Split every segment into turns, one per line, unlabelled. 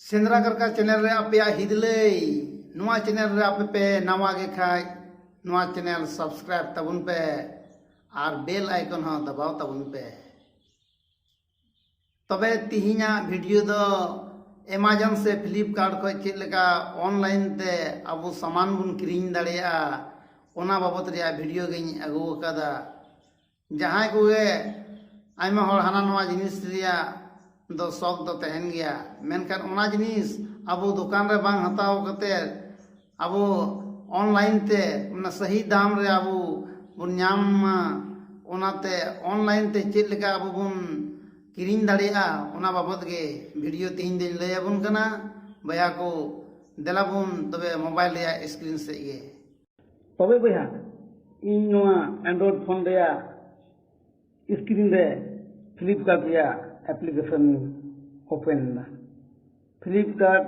ᱥᱮᱸᱫᱽᱨᱟ ᱠᱟᱨᱠᱟ ᱪᱮᱱᱮᱞ ᱨᱮ ᱟᱯᱮᱭᱟᱜ ᱦᱤᱫᱞᱟᱹᱭ ᱱᱚᱣᱟ ᱪᱮᱱᱮᱞ ᱨᱮ ᱟᱯᱮ ᱯᱮ ᱱᱟᱣᱟ ᱜᱮ ᱠᱷᱟᱡ ᱱᱚᱣᱟ ᱪᱮᱱᱮᱞ ᱥᱟᱵᱥᱠᱨᱟᱭᱤᱵ ᱛᱟᱵᱚᱱ ᱯᱮ ᱟᱨ ᱵᱮᱞ ᱟᱭᱠᱚᱱ ᱦᱚᱸ ᱫᱟᱵᱟᱣ ᱛᱟᱵᱚᱱ ᱯᱮ ᱛᱚᱵᱮ ᱛᱤᱦᱤᱧᱟᱜ ᱵᱷᱤᱰᱤᱭᱳ ᱫᱚ ᱮᱢᱟᱡᱚᱱ ᱥᱮ ᱯᱷᱤᱞᱤᱯᱠᱟᱨᱴ ᱠᱷᱚᱡ ᱪᱮᱫ ᱞᱮᱠᱟ ᱚᱱᱞᱟᱭᱤᱱ ᱛᱮ ᱟᱵᱚ ᱥᱟᱢᱟᱱ ᱵᱚᱱ ᱠᱤᱨᱤᱧ ᱫᱟᱲᱮᱭᱟᱜᱼᱟ ᱚᱱᱟ ᱵᱟᱵᱚᱛ ᱨᱮᱭᱟᱜ ᱵᱷᱤᱰᱤᱭᱳ ᱜᱤᱧ ᱟᱹᱜᱩ ᱟᱠᱟᱫᱟ ᱡᱟᱦᱟᱸᱭ ᱠᱚᱜᱮ ᱟᱭᱢᱟ ᱦᱚᱲ ᱦᱟᱱᱟ ᱱᱚᱣᱟ ᱡᱤᱱᱤᱥ ᱨᱮᱭᱟᱜ ᱫᱚ ᱥᱚᱠ ᱫᱚ ᱛᱟᱦᱮᱱ ᱜᱮᱭᱟ ᱢᱮᱱᱠᱷᱟᱱ ᱚᱱᱟ ᱡᱤᱱᱤᱥ ᱟᱵᱚ ᱫᱚᱠᱟᱱ ᱨᱮ ᱵᱟᱝ ᱦᱟᱛᱟᱣ ᱠᱟᱛᱮᱫ ᱟᱵᱚ ᱚᱱᱞᱟᱭᱤᱱ ᱛᱮ ᱚᱱᱟ ᱥᱟᱹᱦᱤ ᱫᱟᱢ ᱨᱮ ᱟᱵᱚ ᱵᱚᱱ ᱧᱟᱢ ᱢᱟ ᱚᱱᱟᱛᱮ ᱚᱱᱞᱟᱭᱤᱱ ᱛᱮ ᱪᱮᱫ ᱞᱮᱠᱟ ᱟᱵᱚ ᱵᱚᱱ ᱠᱤᱨᱤᱧ ᱫᱟᱲᱮᱭᱟᱜᱼᱟ ᱚᱱᱟ ᱵᱟᱵᱚᱫ ᱜᱮ ᱵᱷᱤᱰᱤᱭᱳ ᱛᱮᱦᱮᱧ ᱫᱚᱧ ᱞᱟᱹᱭ ᱟᱵᱚᱱ ᱠᱟᱱᱟ ᱵᱚᱭᱦᱟ ᱠᱚ ᱫᱮᱞᱟ ᱵᱚᱱ ᱛᱚᱵᱮ ᱢᱳᱵᱟᱭᱤᱞ ᱨᱮᱭᱟᱜ ᱥᱠᱨᱤᱱ ᱥᱮᱫ ᱜᱮ ᱛᱚᱵᱮ ᱵᱚᱭᱦᱟ ᱤᱧ ᱱᱚᱣᱟ ᱮᱱᱰᱨᱚᱭᱰ ᱯᱷᱳᱱ ᱨᱮᱭᱟᱜ ᱥᱠᱨᱤᱱ ᱨᱮ ᱯᱷᱞᱤᱯᱠᱟᱨᱴ ᱨᱮᱭᱟᱜ ᱮᱯᱞᱤᱠᱮᱥᱚᱱ ᱳᱯᱮᱱ ᱮᱫᱟ ᱯᱷᱞᱤᱯᱠᱟᱨᱴ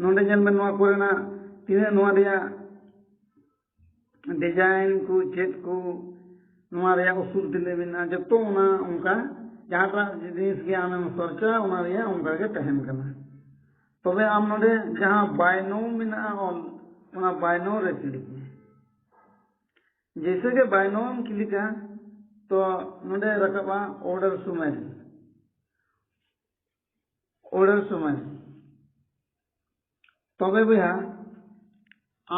ᱱᱚᱰᱮ ᱧᱮᱞ ᱢᱮ ᱱᱚᱣᱟ ᱠᱚᱨᱮᱱᱟᱜ ᱛᱤᱱᱟᱹᱜ ᱱᱚᱣᱟ ᱨᱮᱭᱟᱜ ᱰᱤᱡᱟᱭᱤᱱ ᱠᱚ ᱪᱮᱫ ᱠᱚ ᱱᱚᱣᱟ ᱨᱮᱭᱟᱜ ᱩᱥᱩᱞ ᱛᱤᱱᱟᱹᱜ ᱢᱮᱱᱟᱜᱼᱟ ᱡᱚᱛᱚ ᱚᱱᱟ ᱚᱱᱠᱟ ᱡᱟᱦᱟᱸᱴᱟᱜ ᱡᱤᱱᱤᱥ ᱜᱮ ᱟᱢᱮᱢ ᱥᱚᱨᱪᱟ ᱚᱱᱟ ᱨᱮᱭᱟᱜ ᱚᱱᱠᱟ ᱜᱮ ᱛᱟᱦᱮᱱ ᱠᱟᱱᱟ ᱛᱚᱵᱮ ᱟᱢ ᱱᱚᱰᱮ ᱡᱟᱦᱟᱸ ᱵᱟᱭᱱᱳ ᱢᱮᱱᱟᱜᱼᱟ ᱚᱞ ᱚᱱᱟ ᱵᱟᱭᱱᱳ ᱨᱮ ᱠᱞᱤᱠ ᱢᱮ ᱡᱮᱭᱥᱮ ᱜᱮ ᱵᱟᱭᱱᱳᱢ ᱠᱞᱤᱠᱟ ᱛᱚ ᱱᱚᱰᱮ ᱨᱟᱠᱟᱵᱼᱟ ᱚᱨᱰᱟᱨ ᱥᱩᱢᱮᱞ ᱩᱰᱟᱹᱱ ᱥᱚᱢᱚᱭ ᱛᱚᱵᱮ ᱵᱚᱭᱦᱟ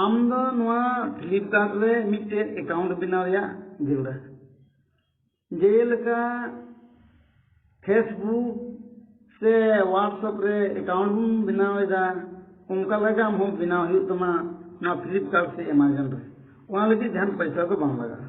ᱟᱢ ᱫᱚ ᱱᱚᱣᱟ ᱯᱷᱞᱤᱯᱠᱟᱨᱴ ᱨᱮ ᱢᱤᱫᱴᱮᱡ ᱮᱠᱟᱣᱩᱱᱴ ᱵᱮᱱᱟᱣ ᱨᱮᱭᱟᱜ ᱡᱟᱹᱨᱩᱲᱟ ᱡᱮᱞᱮᱠᱟ ᱯᱷᱮᱥᱵᱩᱠ ᱥᱮ ᱦᱳᱣᱟᱴᱥᱮᱯ ᱨᱮ ᱮᱠᱟᱣᱩᱱᱴ ᱵᱚᱱ ᱵᱮᱱᱟᱣ ᱮᱫᱟ ᱚᱱᱠᱟ ᱞᱮᱠᱟ ᱟᱢ ᱦᱚᱸ ᱵᱮᱱᱟᱣ ᱦᱩᱭᱩᱜ ᱛᱟᱢᱟ ᱱᱚᱣᱟ ᱯᱷᱞᱤᱯᱠᱟᱨᱴ ᱥᱮ ᱮᱢᱟᱡᱚᱱ ᱨᱮ ᱚᱱᱟ ᱞᱟᱹᱜᱤᱫ ᱡᱟᱦᱟᱱ ᱯᱚᱭᱥᱟ ᱫᱚ ᱵᱟᱝ ᱞᱟᱜᱟᱜᱼᱟ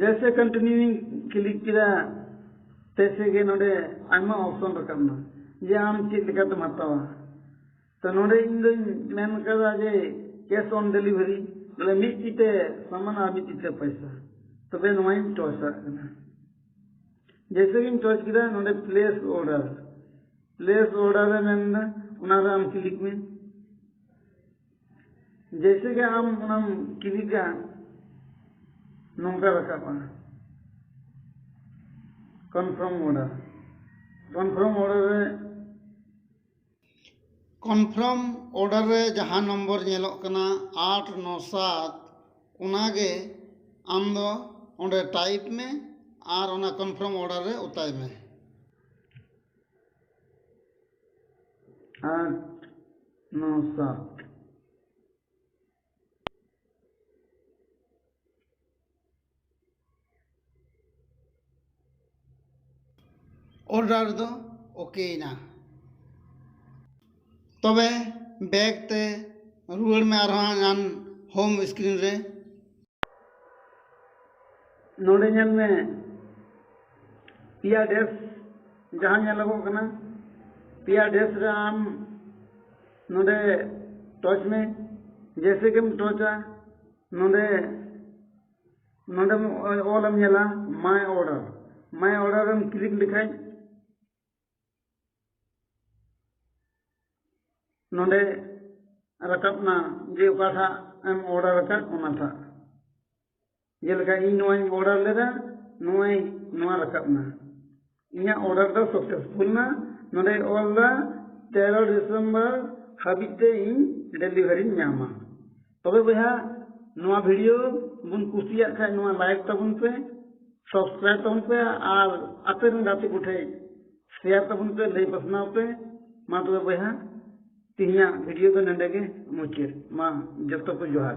ᱡᱮᱭᱥᱮ ᱠᱚᱱᱴᱤᱱᱤᱭᱩᱧ ᱠᱞᱤᱠ ᱠᱮᱫᱟ ᱛᱮᱭᱥᱮ ᱜᱮ ᱱᱚᱰᱮ ᱟᱭᱢᱟ ᱚᱯᱥᱚᱱ ᱨᱟᱠᱟᱵ ᱮᱱᱟ ᱡᱮ ᱟᱢ ᱪᱮᱫ ᱞᱮᱠᱟᱛᱮᱢ ᱦᱟᱛᱟᱣᱟ ᱛᱚ ᱱᱚᱰᱮ ᱤᱧ ᱫᱚᱧ ᱢᱮᱱ ᱠᱟᱫᱟ ᱡᱮ ᱠᱮᱥ ᱚᱱ ᱰᱮᱞᱤᱵᱷᱟᱨᱤ ᱵᱚᱞᱮ ᱢᱤᱫ ᱛᱤᱛᱮ ᱥᱟᱢᱟᱱ ᱟᱨ ᱢᱤᱫ ᱛᱤᱛᱮ ᱯᱚᱭᱥᱟ ᱛᱚᱵᱮ ᱱᱚᱣᱟᱧ ᱴᱚᱪᱟᱜ ᱠᱟᱱᱟ ᱡᱮᱭᱥᱮ ᱜᱤᱧ ᱴᱚᱪ ᱠᱮᱫᱟ ᱱᱚᱰᱮ ᱯᱞᱮᱥ ᱚᱨᱰᱟᱨ ᱯᱞᱮᱥ ᱚᱨᱰᱟᱨ ᱮ ᱢᱮᱱᱫᱟ ᱚᱱᱟᱨᱮ ᱟᱢ ᱠᱞᱤᱠ ᱢᱮ ᱡᱮᱭᱥᱮ ᱜᱮ ᱟᱢ ᱚᱱᱟᱢ ᱠᱤᱞᱤᱠᱟ ᱱᱚᱝᱠᱟ ᱨᱟᱠᱟᱵᱼᱟ ᱠᱚᱱᱯᱷᱟᱨᱢ ᱚᱰᱟᱨ ᱠᱚᱱᱯᱷᱟᱨᱢ ᱚᱰᱟᱨ ᱨᱮ ᱠᱚᱱᱯᱷᱟᱨᱢ ᱚᱰᱟᱨ ᱨᱮ ᱡᱟᱦᱟᱸ ᱱᱚᱢᱵᱚᱨ ᱧᱮᱞᱚᱜ ᱠᱟᱱᱟ ᱟᱴ ᱱᱚ ᱥᱟᱛ ᱚᱱᱟ ᱜᱮ ᱟᱢ ᱫᱚ ᱚᱸᱰᱮ ᱴᱟᱭᱤᱯ ᱢᱮ ᱟᱨ ᱚᱱᱟ ᱠᱚᱱᱯᱷᱟᱨᱢ ᱚᱰᱟᱨ ᱨᱮ ᱚᱛᱟᱭ ᱢᱮ at nosa ᱚᱨᱰᱟᱨ ᱫᱚ ᱳᱠᱮᱭᱮᱱᱟ ᱛᱚᱵᱮ ᱵᱮᱠ ᱛᱮ ᱨᱩᱣᱟᱹᱲ ᱢᱮ ᱟᱨᱦᱚᱸ ᱦᱟᱱᱟ ᱦᱳᱢ ᱥᱠᱨᱤᱱ ᱨᱮ ᱱᱚᱰᱮ ᱧᱮᱞ ᱢᱮ ᱯᱮᱭᱟ ᱰᱮᱥ ᱡᱟᱦᱟᱸ ᱧᱮᱞᱚᱜᱚᱜ ᱠᱟᱱᱟ ᱯᱮᱭᱟ ᱰᱮᱥ ᱨᱮ ᱟᱢ ᱱᱚᱰᱮ ᱴᱚᱪ ᱢᱮ ᱡᱮᱭᱥᱮ ᱜᱮᱢ ᱴᱚᱪᱟ ᱱᱚᱰᱮ ᱱᱚᱰᱮᱢ ᱚᱞᱮᱢ ᱧᱮᱞᱟ ᱢᱟᱭ ᱚᱰᱟᱨ ᱢᱟᱭ ᱚᱰᱟᱨᱮᱢ ᱠᱞᱤᱠ ᱞᱮᱠᱷᱟᱡ ᱱᱚᱰᱮ ᱨᱟᱠᱟᱵ ᱮᱱᱟ ᱡᱮ ᱚᱠᱟᱴᱟᱜ ᱮᱢ ᱚᱰᱟᱨ ᱟᱠᱟᱫ ᱚᱱᱟᱴᱟᱜ ᱡᱮᱞᱮᱠᱟ ᱤᱧ ᱱᱚᱣᱟᱧ ᱚᱰᱟᱨ ᱞᱮᱫᱟ ᱱᱚᱜᱼᱚᱭ ᱱᱚᱣᱟ ᱨᱟᱠᱟᱵ ᱮᱱᱟ ᱤᱧᱟᱹᱜ ᱚᱰᱟᱨ ᱫᱚ ᱥᱟᱠᱥᱮᱥᱯᱷᱩᱞ ᱮᱱᱟ ᱱᱚᱰᱮ ᱚᱞ ᱮᱫᱟ ᱛᱮᱨᱚ ᱰᱤᱥᱮᱢᱵᱚᱨ ᱦᱟᱹᱵᱤᱡ ᱛᱮ ᱤᱧ ᱰᱮᱞᱤᱵᱷᱟᱨᱤᱧ ᱧᱟᱢᱟ ᱛᱚᱵᱮ ᱵᱚᱭᱦᱟ ᱱᱚᱣᱟ ᱵᱷᱤᱰᱤᱭᱳ ᱵᱚᱱ ᱠᱩᱥᱤᱭᱟᱜ ᱠᱷᱟᱱ ᱱᱚᱣᱟ ᱞᱟᱭᱤᱠ ᱛᱟᱵᱚᱱ ᱯᱮ ᱥᱟᱵᱥᱠᱨᱟᱭᱤᱵ ᱛᱟᱵᱚᱱ ᱯᱮ ᱟᱨ ᱟᱯᱮ ᱨᱮᱱ ᱜᱟᱛᱮ ᱠᱚᱴᱷᱮᱱ ᱥᱮᱭᱟᱨ ᱛᱟᱵᱚᱱ ᱯᱮ ᱞᱟᱹᱭ ᱯᱟᱥᱱᱟᱣ ᱯᱮ ᱢᱟ ᱛᱚᱵᱮ ᱵᱚᱭᱦᱟ ᱛᱮᱦᱮᱧᱟᱜ ᱵᱷᱤᱰᱤᱭᱳ ᱫᱚ ᱱᱚᱰᱮ ᱜᱮ ᱢᱩᱪᱟᱹᱫ ᱢᱟ ᱡᱚᱛᱚ ᱠᱚ ᱡᱚᱦᱟᱨ